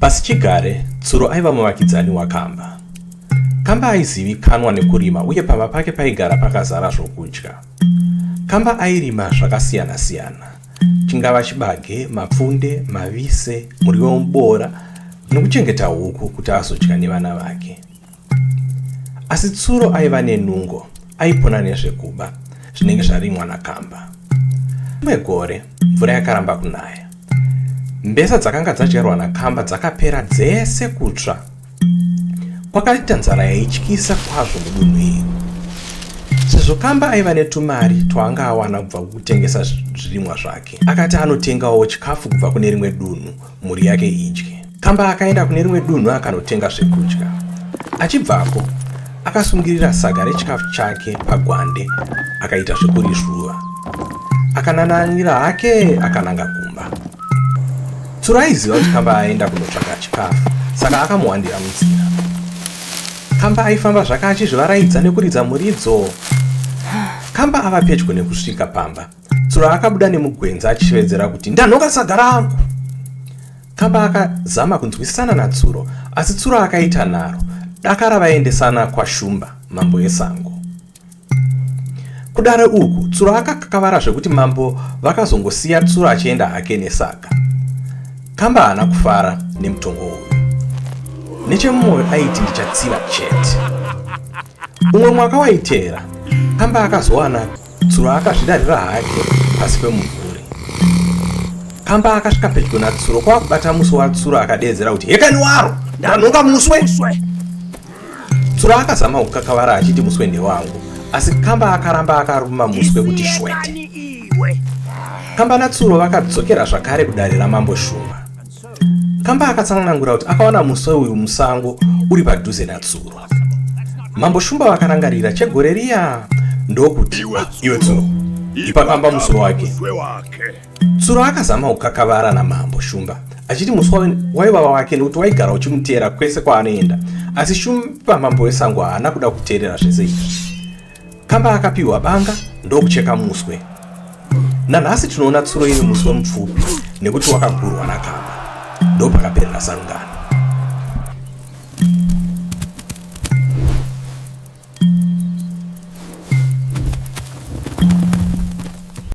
Pasichigare, Tsuro aiva muvakidzani waKamba. Kamba aizivikanwa nekurima uye pamba pake paigara pakazara zvokudya. Kamba airima zvakasiyana-siyana, chingava chibage, mapfunde, mavise, muriwo wemuboora nekuchengeta huku kuti azodya nevana vake. Asi Tsuro aiva nenungo, aipona nezvekuba zvinenge zvarimwa nakamba. Rimwe gore mvura yakaramba kunaya. Mbesa dzakanga dzadyarwa nakamba dzakapera dzese kutsva. Kwakaita nzara yaityisa kwazvo mudunhu iri. Sezvo kamba aiva netumari twaanga awana kubva kukutengesa zvirimwa zvake, akati anotengawo chikafu kubva kune rimwe dunhu mhuri yake idye. Kamba akaenda kune rimwe dunhu akanotenga zvekudya. Achibvapo, akasungirira saga rechikafu chake pagwande akaita zvekurizvuva. Akanananira hake akananga kumba. Tsuro aiziva kuti Kamba aenda kunotsvaga chikafu, saka akamuwandira munzira. Kamba aifamba zvake achizvivaraidza nekuridza muridzo. Kamba ava pedyo nekusvika pamba. Tsuro akabuda nemugwenzi achishevedzera kuti ndanhoka sadza rangu. Kamba akazama kunzwisisana natsuro asi tsuro akaita nharo dakara vaendesana kwashumba mambo esango. Kudare uku tsuro akakakavara zvekuti mambo vakazongosiya tsuro achienda hake nesaga. Kamba haana kufara nemutongo uyu. Nechemumwoyo aiti ndichatsiva chete. Umwe mwaka waiteera Kamba akazowana Tsuro akazvidarira hake pasi pemumvuri. Pamba akasvika pedyo naTsuro kwakubata musi waTsuro akadeedzera kuti hekani waro ndanhonga muswe. Tsuro akazama kukakavara achiti muswe ndewangu asi Kamba akaramba akaruma muswe kuti shwete. Kamba naTsuro vakadzokera zvakare kudare ramambo Shumba. Kamba akatsanangura kuti akawana muswe uyu musango uri padhuze natsuro. Mambo Shumba vakarangarira chegore riya ndokuti iwe tsuro ipa kamba muswe wake. Tsuro akazama kukakavara namambo Shumba achiti muswa waiva wake nekuti waigara uchimuteera kwese kwaanoenda asi shumba mambo wesango haana kuda kuteerera zvese izvi Kamba akapiwa banga ndokucheka muswe. Nanhasi tinoona tsuro iri muswe mupfupi nekuti wakagurwa nakamba. Ndopakaperera sangano.